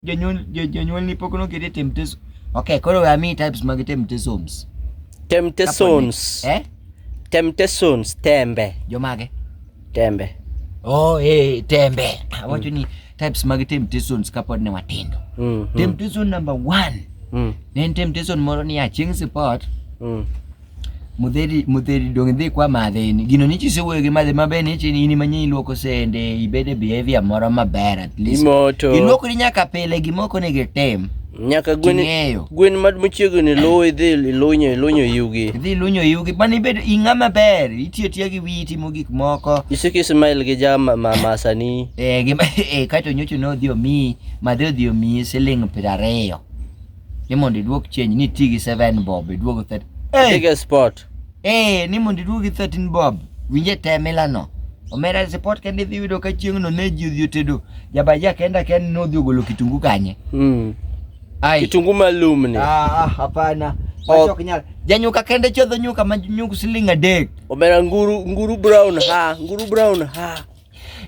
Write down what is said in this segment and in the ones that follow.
jonyuol jo- jonyuolni pok nokete temptation okay koro we amiyi types mag temptations temptations eh temptations tembe jomage tembe oh eh tembe awacho ni types mag temptations kapod ne watindo mm, mm, temptation number one mm, ne en temptation moro ni achieng' sipot mm. Mutheri, mutheri donge dhi kwa madhe ni gino ni chisewuoyo gi madhe maber ni chini in manye iluoko sende ibede behavior moro maber at least Imoto. iluokri nyaka pile gimoko ni gitim Nyaka gwen Ting'eyo. gwen ma machiegni luwo idhi ilunyo ilunyo yugi. idhi lunyo yugi mano ibedo ing'a maber itiyo tiya gi wiyi timo gik moko Isiki smile gi jama ma masani. eh, gima eh, kato nyocho ne odhi omiyi madhe odhi omiyi siling piero ariyo ni mondo iduok change ni ti gi 7 bob iduog 30 hey! Big sport eh ni mondo iduog 13 bob winje temila no omera sport kende dhi yudo ka chieng' no ne ji odhi otedo jabaja kenda ken no dhi ogolo kitungu kanye mm. ai kitungu malum ni ah, ah hapana oh. nyal janyuka kende chodho nyuka ma nyuk siling adek omera nguru nguru brown ha nguru brown ha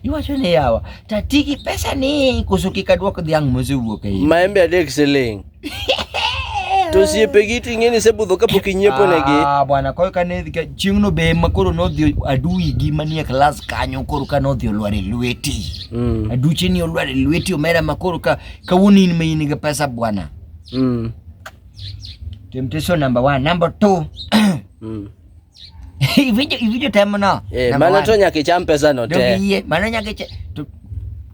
Iwacho ni yawa, tati gi pesa ni koso kik aduok dhiang' mosewuok e iye. Maembe adek siling'. To osiepegi ting'e ni sebudho kapok inyiepo negi. Ah, bwana koyo ka ne ka- chieng'no be ma koro nodhi adui gi manie klas kanyo koro ka nodhi olwar e lweti. Mm, Aduche ni olwar e lweti omera ma koro ka kawuono in ma in gi pesa bwana. mm, Temptation number one, number two. mm. Iwinjo iwinjo temno. Eh, mano to nyaka icham pesa no te. Yie, mano nyaka icham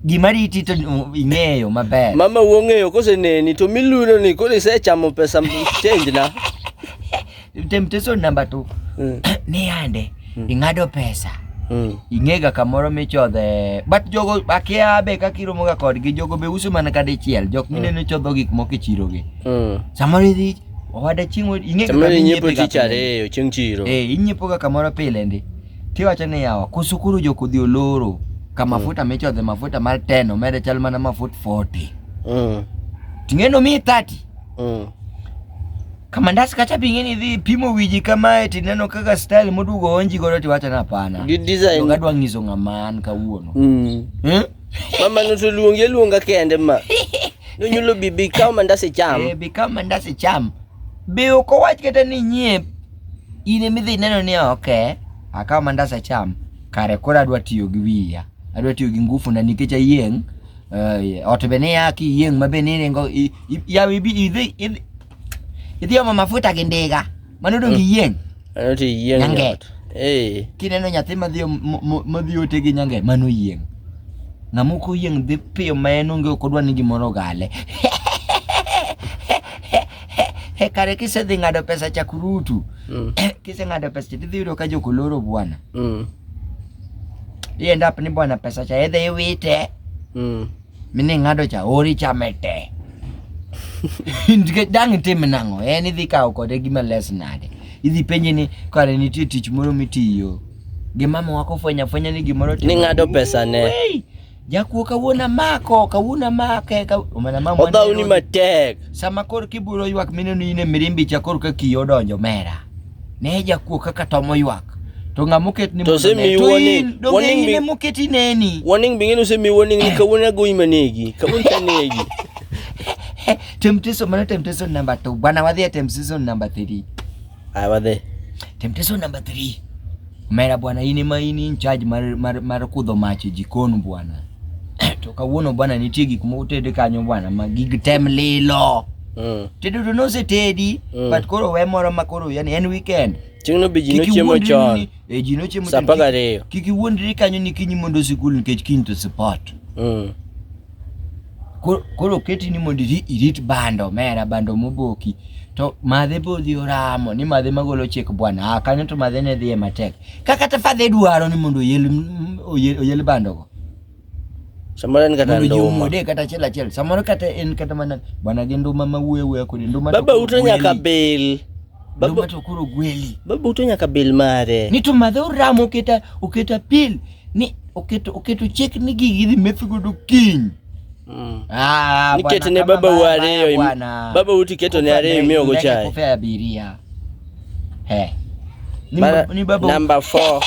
gima riti to ing'eyo maber. Mama wong'eyo kose neni to miluno ni koro isechamo pesa change na. Temptation number 2. Mm. Ni ande mm. ing'ado pesa. Mm. Ing'ega kamoro michodhe but jogo akia be kaka iromoga kodgi jogo be uso mana ka dichiel jok mineno mm. chodho gik moko e chirogi mm. samoro idhi Owada chieng' ing'e kaka Samoro inyiepo inyiepe ga tich pile. ariyo chieng' chiro. Eh, inyiepo ga kamoro pile ndi. Tiwacho ni yawa, koso koro jokodhi oloro. Ka mafuta michodhe mafuta mar 10 omede chal mana mafut 40. Mm. Ting'eno mi 30. Mm. Kamandas kacha ping'eni idhi pimo wiji kamae tineno kaka style modugo onji godo tiwacho ni hapana. Gi design. Joga dwa ng'iso ng'ama an kawuono. Mm. Eh? Mama no to luongi aluonga kende ma. Nonyulo bi bi kaw mandas icham. Eh, bi kaw mandas icham. Be ok owach kata ni nyiep. In ema idhi neno ni oke, akaw mandas acham. Kare koro adwa tiyo gi wiya. Adwa tiyo gi ngufu na nikech ayieng'. Uh, ot be ni ya kiyieng' ma be ni ringo yawi bi idhi Ithiomo mafuta gindiga. Mano dong mm. iyieng. Ano ti iyieng. Nyange. Eh. Kineno nyathi madhi madhi ote gi nyange mano yieng. Ng'ama ok oyieng dhi piyo ma en onge ok odwa ni gimoro gale. He kare kisedhi ng'ado pesa chakurutu. Mm. Kise ng'ado pesa tidhi yudo ka jokoloro bwana. Mm. Ienda ni bwana pesa cha edhe iwite. Mm. mi ni ng'ado cha ori chame te nikech dang' itim nang'o en idhi kawo kode gima les nade idhi penje ni kare nitie tich moro mitiyo gi mama wako fwenya fwenya ni gimoro ni ng'ado pesa ne Wei! jakuo kawuono amako kawuono amake ka- mana mama odhawni matek sama koro kiburo ywak mineno in e mirimbi cha koro ka kiyo odonjo mera Ne jakuo kaka to moywak. To ng'a moket ni To se mi warning. Warning bi moket ineni. Warning bi ng'enu se mi warning ni kawuono agoyi manegi. Kawuono tanegi. Temptation mana temptation number 2. Bwana wadhi temptation number 3. Aya wadhi. Temptation number 3. Omera bwana in ema in in charge mar, mar, mar kudho mach e jikon bwana to kawuono bwana nitie gik moko ted kanyo bwana ma gig tem lilo mm. tedo to nosetedi mm. but koro we moro ma koro yani en weekend Ting'no be ji nochiemo chon. E ji nochiemo chon. Sa apar gariyo. Kik iwuondri kanyo ni kiny mondo sikul nikech kiny to sport. Mm. koro oketi ni mondo irit bando mera bando moboki to madhe bodhi oramo ni madhe magolo chik bwana ah, kanyo to madhe ne dhiye matek ka kata fadhe dwaro ni mondo oyel, oyel, oyel bandogo samoro en kata nduma de kata achiel achiel samoro kata en kata mana bwana gi nduma ma wuye wuye kodi nduma baba uto nyaka bil baba to koro gweli baba uto nyaka bil mare ni to madhe oramo oketa oketa pil ni oketo oketo chik ni gigi idhi meth godo kiny mm. ah, niketo ne baba u ariyo baba u tiketo ne ariyo imiyo go chai kufe abiria he ni, Bara, ni baba number 4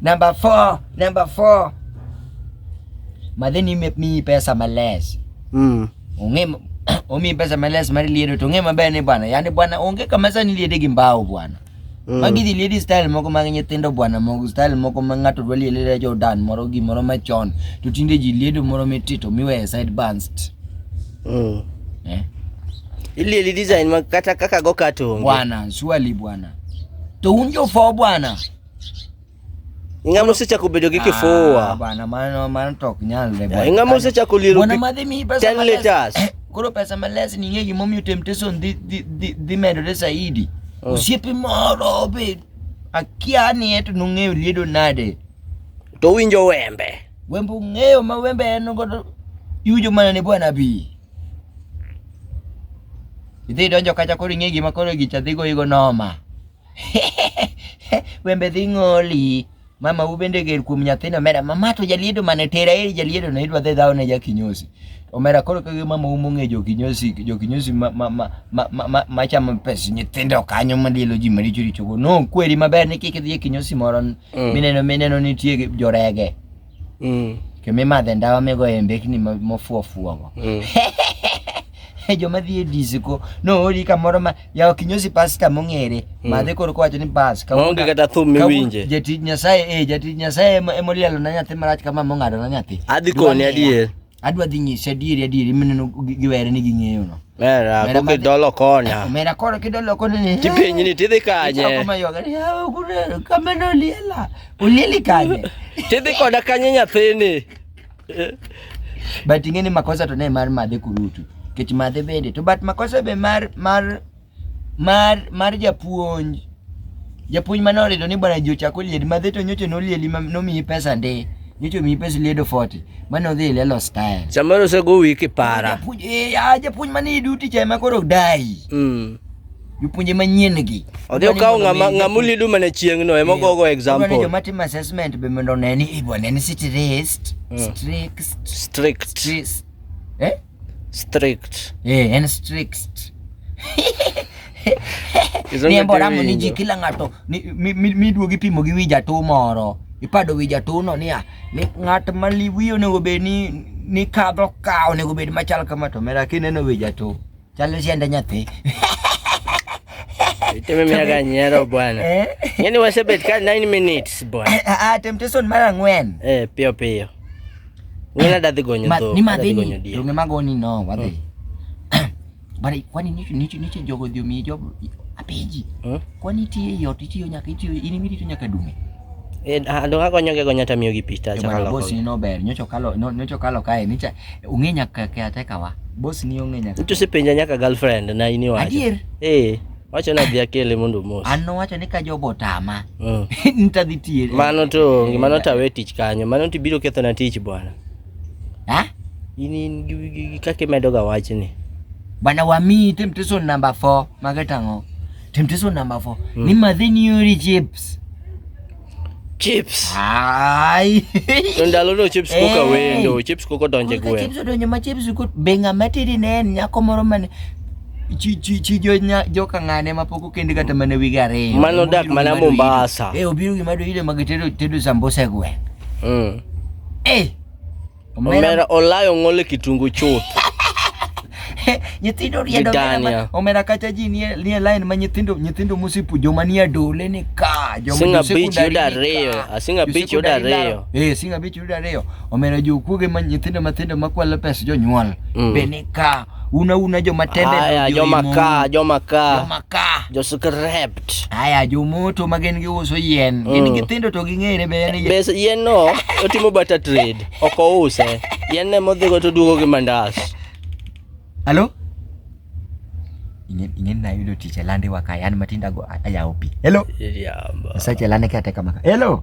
number 4 number 4 madheni mi pesa males mm. ung'e omi pesa males mar liedo to ung'e maber ni bwana yani bwana onge kama sani liede gi mbao bwana Mm. Magi dhi lady style moko mag nyithindo bwana moko style moko ma ng'ato dwa liele le Jordan moro gimoro machon to tinde ji liedo moro mitito miweye side banst. Mm. Eh? Ilieli design ma kata kaka go katonge. Bwana, surely bwana. To unjo fo bwana. Ing'ama osechako bedo gi kifua. Ah, bana mano mano to ok nyalre. Yeah, ing'ama osechako lielo. Bwana madhi mi pesa 10 liters. Eh, koro pesa males ni ng'egi momiyo temptation dhi dhi dhi medore zaidi. Oh. Osiepe moro be akia ni eto nong'eyo liedo nade. To winjo wembe. Wembe ung'eyo ma wembe en godo iwinjo mana ne bwana bi. Idhi donjo kacha koro ing'egi ma koro gicha dhigo igo noma. wembe dhi ng'oli mama u bende ger kuom nyathino omera mama to jaliedo mane tera eri jaliedo no idwa dhi dhawo ne jakinyosi omera koro kage mama u mong'e jokinyosi jokinyosi ma ma ma ma ma ma ma chamo pes nyithindo kanyo malielo ji maricho richo go no kweri maber ni kik idhi e kinyosi moro Mm. mineno mineno nitie jorege mm. to mimadhe ndawa migoye mbekni mofuofuogo mm. joma dhi e disco noori kamoro ma yawo kinyosi pasta mong'ere mm. madhe koro kowacho ni bas kaonge kata thum miwinje jatij nyasaye eh jatij nyasaye emolielo na nyathi marach kama mong'ado na nyathi adhi koni adier adwa dhi nyisi adieri adieri mineno giwere ni ging'eyo no mera ko kidolo kona mera koro kidolo kona ni tipiny ni tidhi kanye ako mayoga ni hawa kunero kameno uliela ulieli kanye tidhi koda kanye nyathini but ing'e ni makosa to ne mar madhe kurutu kech madhe bende to but makosa be mar mar mar mar japuonj japuonj mane orido ni bwana ji ochak oliedi madhe to nyocha nolieli ma- nomiyi pesa ndi nyocha omiyi pesa liedo 40 mane odhi e lelo style Samoro osego wi kipara. Japuonj- eh, ah, japuonj mane i duty cha ema koro odayi Mm. jopuonje manyien gi Odhi okawo ng'ama ng'ama ulidu mana chieng'no ema ogogo Odwaro ni example. joma timo assessment be mondo one ni "Eh, bwana en stressed, Mm. strict, Strict. stressed." Eh? Strict. Eh, en strict. Ni e mbora mo ni ji kila ng'ato miduogi pimo gi wi jatuo moro. Ipado wi jatuo no niya, ni ng'at ma liwi onego bed ni ni kadho ka onego bed machal kama to mera kineno wi jatuo. Chalo siende nyathi. Iteme mia ga nyero bwana. Eh? Yaani wasebet ka 9 minutes bwana. Ah, ah, temptation mara ng'wen. Eh, pio pio. Ng'ina dadhi gonyo Ma- dhok. ni adadhi madhini gonyo diek. donge magoni no wadhi But kwani nicho nicho nicho jogo dhi omiyi job apenji Hmm? kwani itiyo ei ot itiyo nyaka itiyo in imi rito nyaka dume Eh, ah, dong agonyo ge gonya tamiyo gi pista To chaka bana loko. boss ni no ber nyocho kalo no- nyocho kalo kae nicha ung'e nyaka kea tekawa boss ni ong'e nyaka Nicho sipenja nyaka girlfriend na ini wacho. adier Eh. Wacho na dhi akele mondo mos. An nowacho ni ka jogo otama. Mm. Nitadhi tiye. Mano to onge, mano tawe tich kanyo. Mano to ibiro ketho na tich bwana. Ha? In in gi- gi- gi- kaka imedo ga wachni. Bana wamiyi temptation number 4 magetang'o. Temptation number 4 ni madhi nyori chips. chips ai to ndalono chips koka eh. wendo chips koka donje gwe chips odonjo ma chips kut be ng'ama tiri ne en nyako moro mane chi chi chi jo nya jo kangane ma poko kende kata mane wigi ariyo mano dak mana Mombasa eh obiro gima do ile mag tedo tedo sambusa gwe mm eh Omera olayo ng'ole kitungu chuth. nyithindo riedo omera kacha ji nie nie line ma nyithindo nyithindo musipu joma nie dole ni ka joma singa beach yuda reyo asinga beach yuda reyo eh singa beach yuda reyo omera jokuoge ma nyithindo mathindo makwalo pes jonyuol mm. be ni ka Una una joma tembe Aya, jo joma imo. ka, joma ka. Joma ka. Jo script. Aya, jo moto ma gin giuso yien. Gin Mm. githindo to ging'ere be en yien. Bes yien no otimo barter trade, ok ouse. Yien ne modhigo to duogo gi mandas. Halo? Ing'e- Ing'eni nayudo tich e lande waka yan matinda go a- ayawo pi. Hello? Iriamba. Sache lande kate kama. Hello?